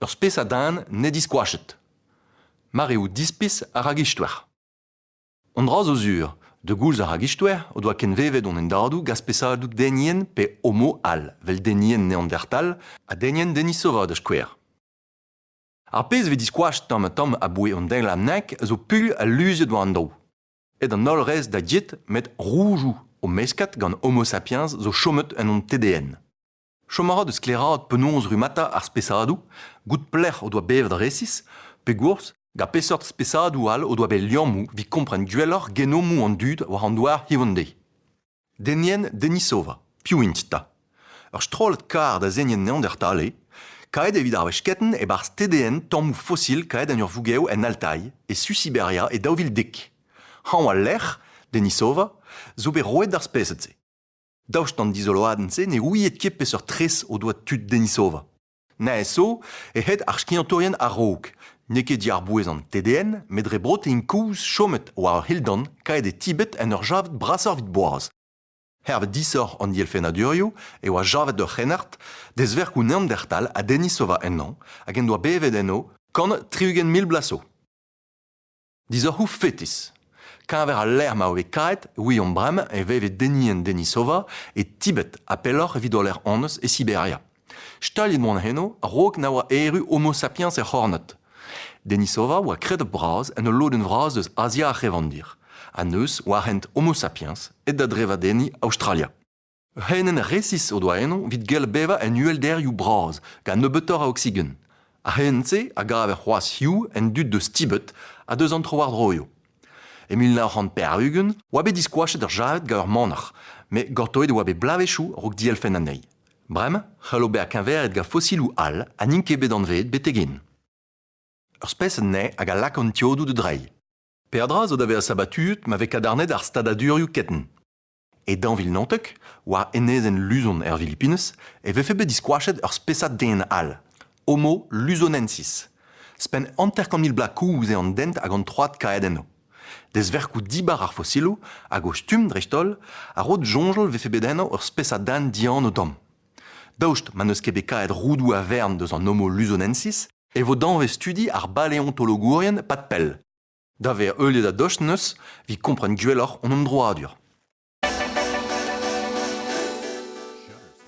Ur spesad den n'eo diskoachet. Mareoù dispis a ragistwer. An dra zo sur, de goulz ar ragistwer o doa kenvevet hon endadoù gant spesadoù denien pe homo all, vel denien neandertal ha denien denisova da skouer. Ar pezh vez diskoachet tamm ha tamm aboe an deiz lamnek zo pul ha luziet war an daou. Aet an holl rez da get met roujoù o meskad gant Homo sapiens zo chomet en hon TDN. Chom a ra da sklaeraat penaos rummata ar spesadoù, goût pelec'h o doa bevet resis, pegoulz ha peseurt spesadoù all o doa bet liammoù evit kompren gwelloc'h genomoù an dud war an douar Hiv-Ende. Denien Denisova. Piv int 'ta? Ur strollad karr da zenien Neandertal eo, kaet evit ar wechketenn e-barzh TDN tammoù fosil kaet en ur vougev en Altai, e su Siberia e daou vil dek. Hañv al lec'h, Denisova, zo bet roet d'ar spesad-se. Daoust d'an dizoloadenn-se ne ouiet ket peseurt tres o doa tud Denisova. Neñv-so eo hed ar skiantourien a-raok. N'eo ket diàr-bouez an TDN met dre brotein kouzh chomet war ur c'hildan kaet e Tibet en ur javet brasoc'h evit boaz. Hervez disoc'h an dielfennadurioù e oa javet ur c'hrennard dezverkoù Neandertal ha Denisova ennañ hag en doa bevet enno kant tri-ugent mil bloaz zo. Disoc'hoù fetis. Keñver al lec'h ma ove kaet, William Brem e veve Denis and Denisova e Tibet ha pelloc'h evit o lec'h honnezh e Siberia. Staliet mont eno a-raok na oa erru Homo sapiens er c'hornad. Denisova oa kredabl bras en ul lodenn vras eus Azia ar c'hevandir, ha neuz war hent Homo sapiens aet da drevadenniñ Aostralia. Ur c'heinenn resis o doa eno evit gell bevañ en uhelderioù bras gant nebeutoc'h a oksigen. Ar c'heinenn-se a gaver c'hoazh hiziv en dud deus Tibet ha deus an trowardroioù. E mil nav c'hant pevar-ugent e oa bet diskoachet ar javed gant ur manac'h, met gortoet e oa bet bloavezhioù a-raok dielfenn anezhi. Bremañ c'hallo bezañ keñveriet gant fossiloù all ha n'int ket bet anveet betek-hen. Ur spesad nae hag a lak an tiodoù da dreiñ. Peadra zo da vezañ sabatuet ma vez kadarnaet ar stadadurioù ketenn. E dañvil-naontek, war enezenn Luzon er Filipinez, e vefe bet diskoachet ur spesad den all, Homo luzonensis. Spenn hanter-kant mil bloaz kouz eo an dent hag an troad kaet enno. Dezverkoù dibar ar fosiloù hag o stumm dreist-holl a ro soñjal vefe bet enno ur spesad den dianv tomm. Daoust ma n'eus ket bet kaet roudoù a-vern deus an Homo luzonensis e vo danvez-studi ar baleontologourien pad pell. Da vezañ heuliet a-dost 'neus evit kompren gwelloc'h hon emdroadur.